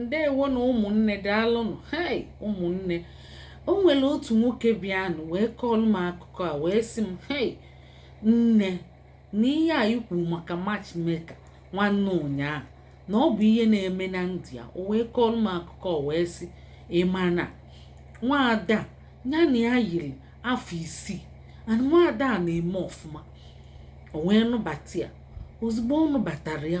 ndewonụ ụmụnne daalụnụ hei ụmụnne o nwere otu nwoke bịanụ wee kọọlụ m akụkọ a wee sị m hei nne na ihe a i kwu maka matchmaker nwanne ụnyaahụ na ọ bụ ihe na-eme na ndụ ya o wee kọọlụ m akụkọ wee sị ị ma na nwaada a ya na ya yiri afọ isii and nwaada a na-eme ọfụma o wee nụbata ya ozugbo ọ nụbatara ya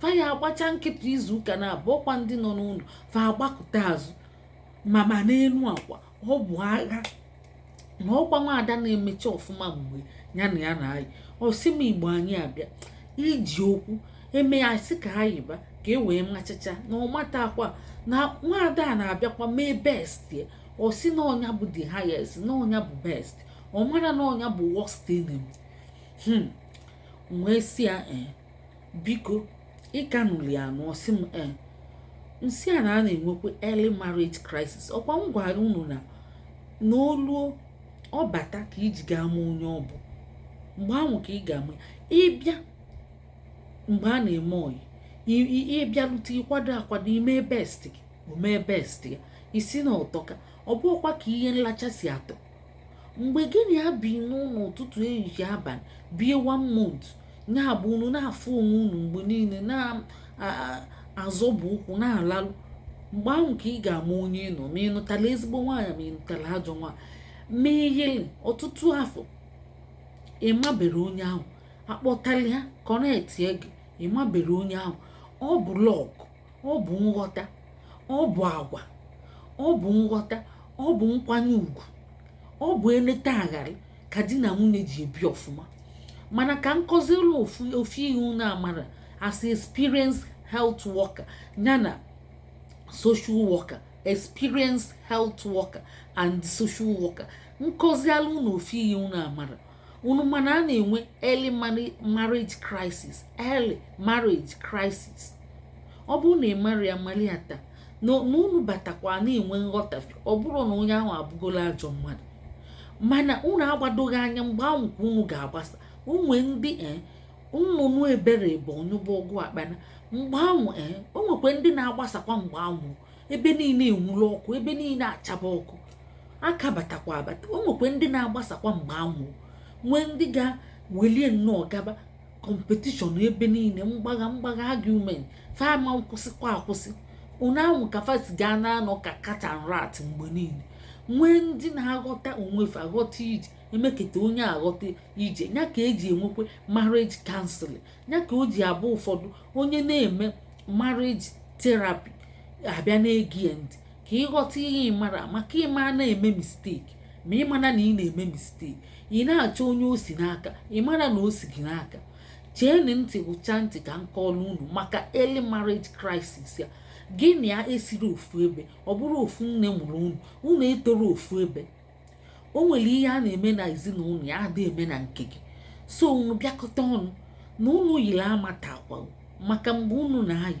fa ya agbacha nkịtị izu ụka naabọ ọkwa ndị nọ n'ụlọ fa agbakụta azụ ma ma n'elu akwa ọ bụ agha na ọkwa nwaada a na-emecha ọfụma mgbe ya na ya na-ayị ọ sị m igbo anyị abịa iji okwu eme ya sị ka a yiba ka e wee machacha na ọ matakwa na nwaada a na-abịakwa mee best ya ọ sị na ọ nya bụ the highest na ọ nya bụ best ọ mara na ọ nya bụ worst enemy hmm. wee sị ya ee eh, biko ị ka nụli anụ ọ sị m ee m sị ya na a na-enwekwa early marriage crisis ọkwa m gwara unu na na o luo ọ bata ka i ji ga-ama onye ọ bụ mgbe ahụ ka ị ga-ama ị bịa mgbe a na-eme ọyị ị bịarute ị kwado akwado i mee best gị o mee best ya ị sị na ọ tọka ọ bụkwa ka ihe nlacha si atọ mgbe gị na ya bi n'ụlọ ụtụtụ ehihie abalị bie one month nya bụ unu na-afụ onwe unu mgbe niile na-azọbụ ụkwụ na-alalụ mgbe ahụ ka ị ga-ama onye ị nụ ma ị nụtala ezigbo nwaanyị ma ị nụtala ajọ nwaanyị ma i yili ọtụtụ afọ ị maberọ onye ahụ a kpọtala ya connect gị ị maberọ onye ahụ ọ bụ luck ọ bụ nghọta ọ bụ agwa ọ bụ nghọta ọ bụ nkwanye ugwu ọ bụ eleta aghara ka di na nwunye ji ebi ọfụma mana ka m kọzielụ ofu ihe unu amara as experience health worker yana social worker experience health worker and social worker m kọzielụ unu ofu ihe unu amara unu ma na a na-enwe early marriage crisis early marriage crisis ọ bụrụ na ị mara ya mali ya taa na unu batakwa na-enwe nghọtafe ọ bụrụ na onye ahụ abụgola ajọ mmadụ mana unu agbadoghị anya mgbe ahụ ka unu ga-agbasa o nwe ndị eh, nnụnụ ebere bụ ọ nyụba ọgụ akpana mgbe ahụ eh, o nwekwa ndị na-agbasakwa mgbe ahụ ebe niile enwuru ọkụ ebe niile achaba ọkụ a ka batakwa abata o nwekwa ndị na-agbasakwa mgbe anwụ nwee ndị ga-welie nnọọ gaba competition ebe niile mgbagha mgbagha argument fa ama akwụsịkwa akwụsị ọ nya ahụ ka fa si ga na-anọ ka cat and rat mgbe niile nwee ndị na-aghọta onwe fa aghọta ije emeketa onye aghọta ije ya ka eji enwekwa marriage counseling ya ka o ji abụ ụfọdụ onye na-eme marriage therapy abịa na-ege ya ntị ka ị ghọta ihe ị mara maka ị ma na-eme mistake ma ị mara na ị na-eme mistake ị na-achọ onye o si n'aka ị mara na o si gị n'aka cheenụ ntị gwụcha ntị ka m kọọlụ unu maka early marriage crisis ya gị na ya esiro ofu ebe ọ bụrọ ofu nne mụrụ unu unu etoro ofu ebe o nwere ihe a na-eme na ezinụlọ ya adị eme na nke gị so unu bịakọta ọnụ na unu yiri amatakwa maka mgbe unu na-ayị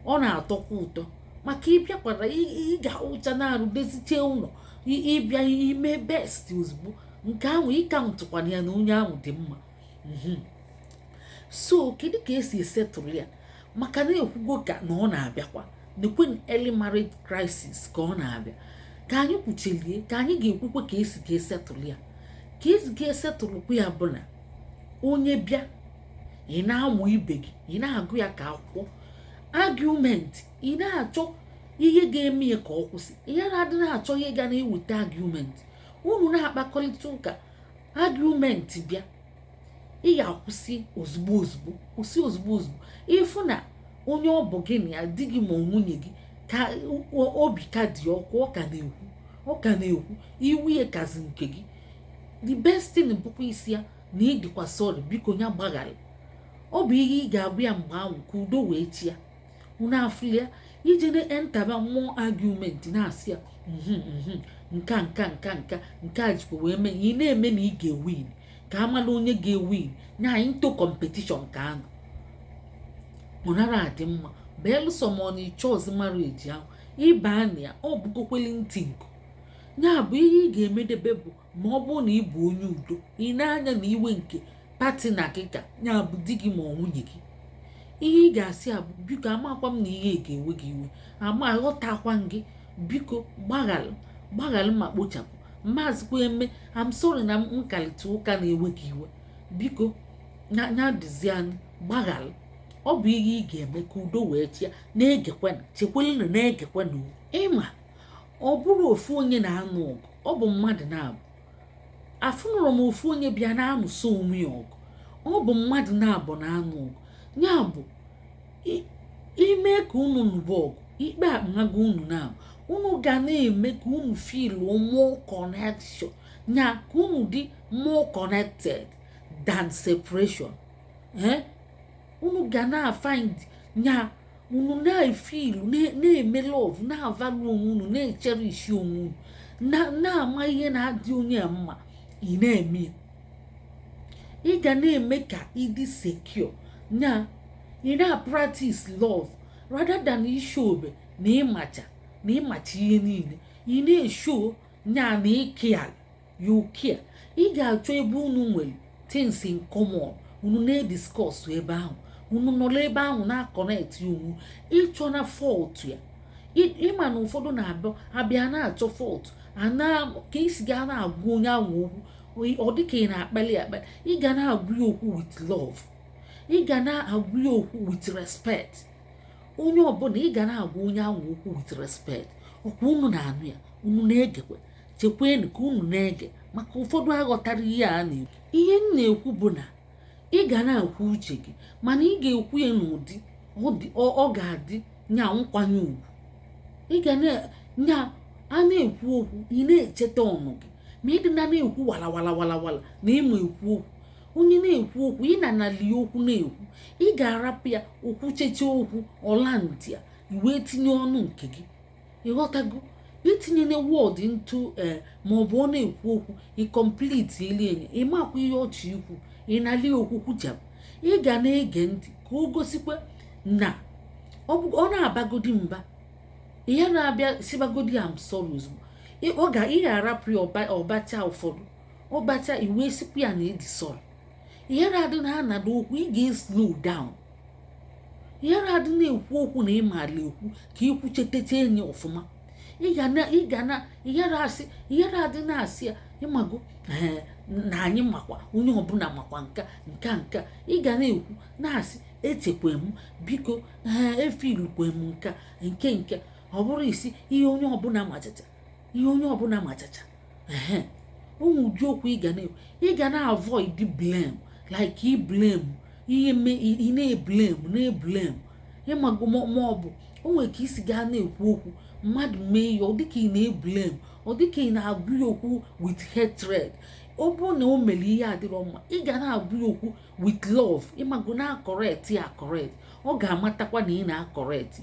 ọ na-atọkwa ụtọ maka ịbịakwara ị ga-awụcha na-arụ dezichee ụlọ ị bịa ime best ozugbo nke ahụ ị countụkwana ya na onye ahụ dị mma mhm. so kedu ka esi esettle ya maka na ekwugo ka na ọ na-abịakwa nekwe early marriage crisis ka ọ na-abịa ka anyị kwuchelie ka anyị ga-ekwukwe ka esi ga-esettle ya ka esi ga-esettlekwa ya bụ na onye bịa ị na-amụ ibe gị ị na-agụ ya ka akwụkwọ argument ị na-achọ ihe ga-eme ya ka ọ kwụsị ya na-adị na-achọ ihe ga na-eweta argument unu na-akpakọrịta ụka argument bịa ị ga-akwụsị ozugbo ozugbo kwụsị ozugbo ozugbo ị fụ na onye ọ bụ gị na ya di gị ma ọ nwunye gị ka obi ka dị ọkụ ọ ka na-ekwu ọ ka na-ekwu iwe ya kazi nke gị the best thing bụkwa ị sị ya na ị dịkwa sorry biko ya gbaghara ọ bụ ihe ị ga-agwa ya mgbe ahụ ka udo wee chịa unu afụlia i je na-enterba more argument na-asị ya mhm, mhm, nka nka nka nka nke a jikwa wee mee ị na-eme na ị ga-ewin ka a malụ onye ga-ewin nya into competition ka ahụ ọ nara adị mma belụsọ ma ọ na ị chọọzi marriage ahụ ị ba na ya ọ bụgokweli ntị nku ya bụ ihe ị ga-emedebe bụ ma ọ bụrụ na ị bụ onye udo ị nee anya na iwe nke partner gị ka ya bụ di gị ma ọ nwunye gị ihe ị ga-asị ya bụ biko amakwa m na ihe ga-ewe gị iwe ama aghọtakwa gị biko gbaghalụ gbaghalụ ma kpochapụ maazịkwa eme I'm sorry na nkalịta ụka na-ewe gị iwe biko nya dịzianụ gbaghalụ ọ bụ ihe ị ga-eme ka udo wee chịa na-egekwana chekwelena na-egekwana ịma ọ bụrọ ofu onye na-anụ ọgụ ọ bụ mmadụ naabọ afụnurọ m ofu onye bịa na-anụso onwe ya ọgụ ọ bụ mmadụ naabọ na-anụ ọgụ ya bụ ime ka unu nụba ọgụ ikpe amago unu naabọ unu ga na-eme ka unu feel more connection ya ka unu dị more connected than separation eh? unu ga na-afind nya unu na-efeel na-eme love na-avalue onwe unu na-echerish onwe unu na-ama ihe na-adị onye mma ị na-eme ị ga na-eme ka ị dị secure nya ị na-practice love rather than ị showbe na ịmacha na ịmacha ihe niile ị na-eshow nya na ị care you care ị ga-achọ ebe unu nwere things in common unu na-ediscuss ebe ahụ unu nọrọ ebe ahụ na-aconnect ya onwe ị chọna fault ya ịma na ụfọdụ na-abịa abịa na-achọ fault ka i si ga na-agwa onye ahụ okwu ọ dịka ị na-akpali akpali ị ga na-agwa ya okwu with love ị ga na-agwa ya okwu with respect onye ọbụla ị ga na-agwa onye ahụ okwu with respect ọkwa unu na-anụ ya unu na-egekwe chekwenụ ka unu na-ege maka ụfọdụ aghọtarọ ihe a na-ekwu ihe m na-ekwu bụ na ị ga na-ekwu uche gị mana ị ga-ekwu ya n'ụdị ọ ga-adị nya nkwanye ugwu ị ga na-nya a na-ekwu okwu ị na-echeta ọnụ gị ma ịdị na na-ekwu wala wala wala wala na ịma ekwu okwu onye na-ekwu okwu ị na-anali okwu na-ekwu ị ga-arapụ ya o kwucheche okwu ọ landịa i wee tinye ọnụ nke gị ịghọtago i tinyena word ntu eh, ma ọ bụ ọ na-ekwu okwu ị completelị enye ịmakwa ihe ọ chọ ikwu ị nalị okwu kwuchapụ ị ga na-ege ntị ka o gosikwa na ọ na-abagodi mba ị yara bịa sịbagodi am sorry ozugbo ị ga-arapụ ya ọ bachaa ụfọdụ ọ bachaa i wee sịkwa ya na ị dị sorry ị yara adị na-anado okwu ị ga-eslow down yara adị na-ekwu okwu na ị mala ekwu ka i kwuchetecha enyi ọfụma ị ga na ị yara asị ị yara adị na-asị ya ịmago na anyị makwa onye ọbụla makwa nka nka nka ị ga na-ekwu na-asị echekwa m biko ee efeelukwe m nka nke nke ọ bụrọ ị sị ihe onye ọbụla machata ihe onye ọbụla machacha ehe o nwe ụdị okwu ị ga na ị ga na-avoid blame like ịblame ihe mme ị na-eblame na-eblame ịmago ma ọ bụ o nwere ka i si ga na-ekwu okwu mmadụ mee ya ọ dịka ị na-eblame ọ dịka ị na-agwa ya okwu with hatred ọ bụrụ na o mere ihe adịrọ mma ị ga na-agwa ya okwu with love ịmago na-akọrekt ya akọrekt ọ ga-amatakwa na ị na-akọrekt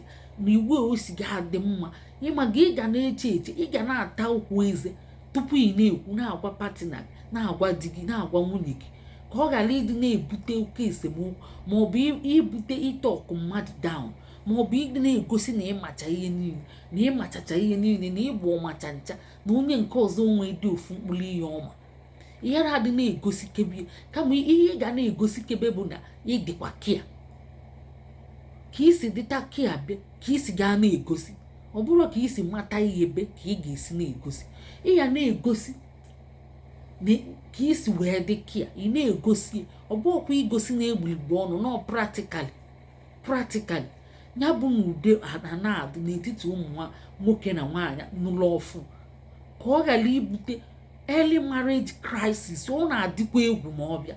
na iwe o si ga adị mma ịmago ị ga na-eche eche ị ga na-ata okwu eze tupu ị na-ekwu na-agwa patina gị na-agwa di gị na-agwa nwunye gị ka ọ ghara ịdị na-ebute oke esemokwu ma ọ bụ ibute ịtọkụ mmadụ down ma ọ bụ ịdị na-egosi na ịmacha ihe niile na ịmachacha ihe niile na ị bụ ọmachancha na onye nke ọzọ o nwedị ofu mkpụrụ ihe ọ ma ihe na-adị na-egosikebe kama ihe ị ga na-egosikebe bụ na ị dịkwa kia ka i si dịta kia be ka i si ga na-egosi ọ bụrọ ka i si mata ihe be ka ị ga-esi na-egosi ị ya na-egosi ka i si wee dị kia ị na-egosi ọ bụrọkwa igosi n'egbuligbo ọnụ no practically practically ya bụ na udo ana-adị n'etiti ụmụ nwoke na nwaanyị nụlụ ọfụụ ka ọ ghara ibute early marriage crisis ọ na-adịkwa egwu ma ọ bịa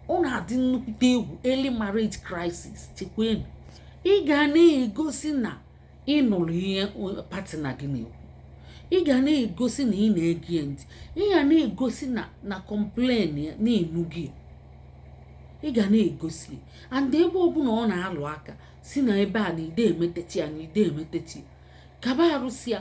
ọ na-adị nnukwute egwu early marriage crisis chekwenu ị ga na-egosi na ị nụrụ ihe patina gị na-ekwu ị ga na-egosi na ị na-ege ya ntị ị ga na-egosi na na kọmplen ya na-enu gị ị ga na-egosi and ebe ọbụla ọ na-alụ aka sị na ebe a na ide emetechi ya na ide emetechi kaba arụsị ya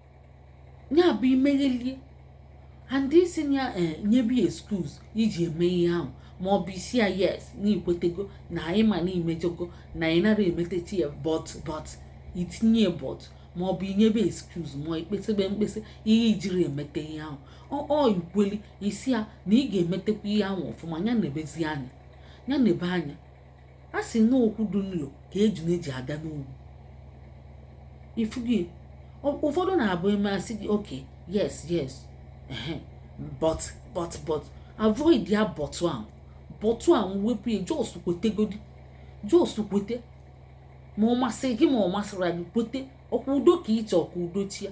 ya bụ imeghelie and ị sị ya eh, nyebe ya excuse iji eme ihe ahụ ma ọ bụ ị sị ya yes na ikwetego na ị ma na imejọgo na ị nara emetechi ya but but itinye but ma ọ bụ inyebe excuse ma ikpesebe mkpesa ihe ijiri emete ihe ahụ or ikweli ị sị ya na ị ga-emetekwa ihe ahụ ọfụma ya nebezi anya ya nebe anya a sị na okwu dị nlo ka ejuna ji aga n'ogwu ịfụgo ya ụfọdụ na-abụ e mee a sị gị okay yes yes but but but avoid ya but ahụ but ahụ wepụ ya just kwetegodi just kwete ma ọ masị gị ma ọ masịra gị kwete ọkwa udo ka ịchọ ka udo chịa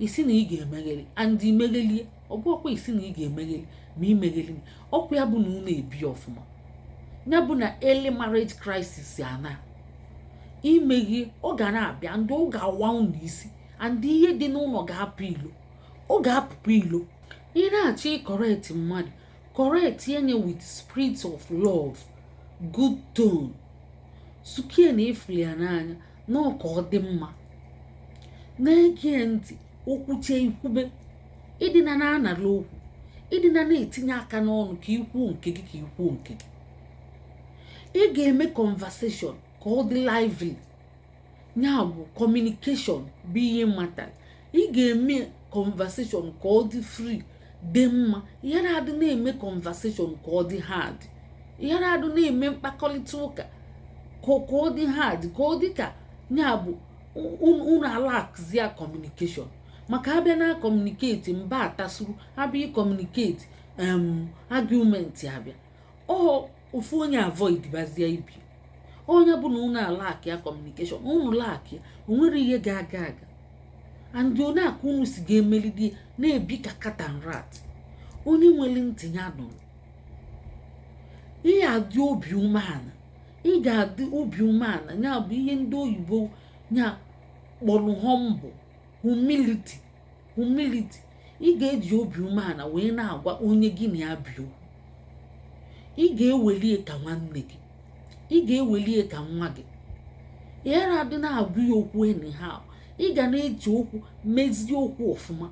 ị sị na ị ga-emegheli and imeghelie ọ bụrọkwa ịsị na ị ga-emegheli ma imegheli ọkwa ya bụ na unu ebi ọfụma ya bụ na early marriage crisis ana imeghe ọ ga na-abịa and ọ ga-awa unu isi and ihe dị n'ụlọ ga-apụ ilo ọ ga-apụkwa ilo ị na-achọ ịkọrekt mmadụ kọrektie ya with spirit of love good tone sukie na ịfụli ya n'anya na ọ ka ọ dị mma na-ege ntị o kwuche i kwube ịdịna na-anara okwu ịdịna na-etinye aka n'ọnụ ka ikwuo nke gị ka ikwuo nke gị ị ga-eme conversation ka ọ dị lively ya bụ communication bụ ihe matter ị ga-eme conversation ka ọ dị free dị mma ị ghara adị na-eme conversation ka ọ dị hard ị ghara adị na-eme mkpakọrịta ụka ka ọ dị hard ka ọ dị ka ya bụ unu a-lackzia communication maka a bịa na-communicate mba atasuru a bịa ị-communicate um argument abịa or ofu onye avoidbazie ibe o ya bụ na unu a-lackịa communication unu lackịa o nwerọ ihe ga-aga aga and o nwe aka unu si ga-emelidi na-ebi ka cat and rat onye nwere ntị ya nụrụ ị ga-adị obi umeala ị ga-adị obi umeala ya bụ ihe ndị oyibo ya kpọrọ humble humility humility ị ga-eji obi umeala wee na-agwa onye gị na ya bi okwu ị ga-eweli ya ka nwanne gị ị ga-eweli ya ka nwa gị ị ghara adị na-agwa ya okwu anyhow ị ga na-eji okwu mezie okwu ọfụma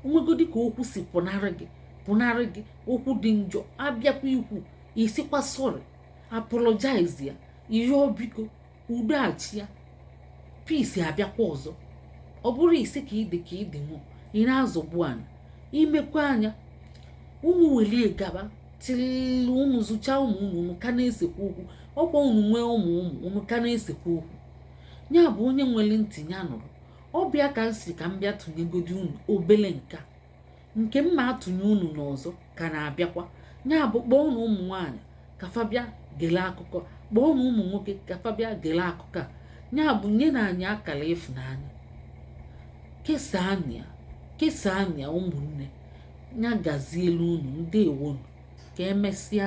o nwegodi ka okwu si pụnarị gị pụnarị gị okwu dị njọ abịakwa ikwu ị sịkwa sorry apologize ya ị rịọ biko udo achịa peace abịakwa ọzọ ọ bụrụ ị sị ka ịdị ka ịdị nwụọ ị na-azọgbu anya i mekwa anya unu weli ya gaba till unu zụchaa ụmụ unu unu ka na-esekwa okwu ọkwa unu nwee ụmụ ụmụ unu ka na-esekwa okwu ya bụ onye nwere ntị ya nụrụ ọ bụ ya ka m sị ka m bịa tụnyegodi unu obele nka nke m na-atụnye unu na ọzọ ka na-abịakwa ya bụ kpọọnụ ụmụ nwaanyị ka fa bịa gele akụkọ kpọọnụ ụmụ nwoke ka fa bịa gele akụkọ a ya bụ nyenụ anyị akara ịfụnanya kesaanụ ya kesaanụ ya ụmụnne ya gazielu unu ndewonu ka emesịa